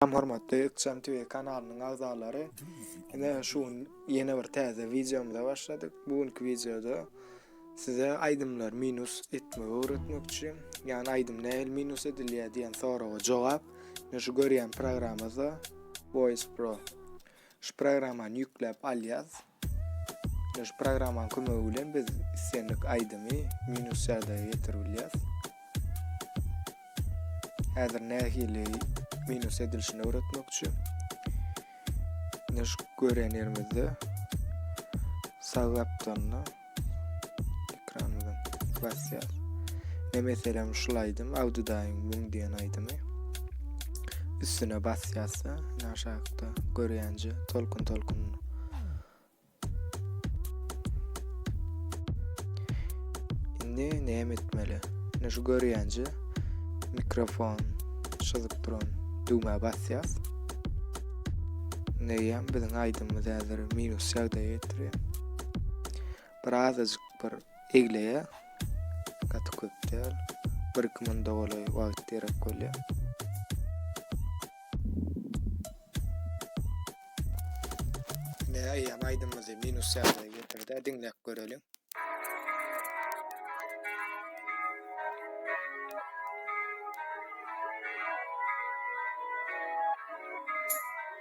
Salam hormatly Ykjam TV kanalynyň agzalary. Ine şu gün ýene bir täze wideomyza başladyk. Bu günki wideoda size aýdymlar minus etmegi öwretmekçi. Ýani aýdym nähili minus edilýär diýen soraga jogap. Ine şu görýän programmada Voice Pro. Şu programmany ýükläp alýas. Ýa şu programmanyň kömegi bilen biz islendik aýdymy minus ýagdaýa getirip bilýäs. Häzir nähili minus edilişini öwretmekçi. Ýa şu görýän ýerimizde sag gapdalynda Ekranymyzyň klasiyas. Ne meselem şul aýdym, Awdydaýyň müň diýen aýdymy. Üstüne basýasda, aşakda görýänje tolkun tolkun. Indi näme etmeli? Indi şu görýänje mikrofon çyzyp duran düwmä basýas. Neýem biziň aýdymymyz häzir minus ýagdaýa getirýär. Bir azajyk bir egleýär. Gaty köp däl. 1-2 minda golaý wagt gerek bolýar. Ne aýam aýdymymyzy minus ýagdaýa getirdi. Diňläp göreliň.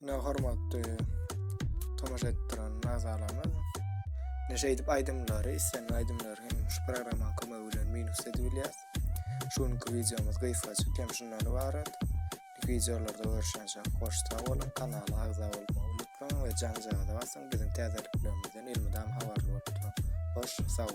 Ne hormatly tomaşa etdiren azalarymyz. Ne şeýdip aýdymlary, islenýän aýdymlary hem şu programmanyň kömegi bilen minus edip bilýär. Şu günki wideomyz gysgaçyk hem şundan ibarat. Wideolarda görüşençe hoş sag boluň, kanala agza bolmagy unutmaň we janjagaza basyň, biziň täzeliklerimizden elmydam habarly bolup turuň. Hoş sag boluň.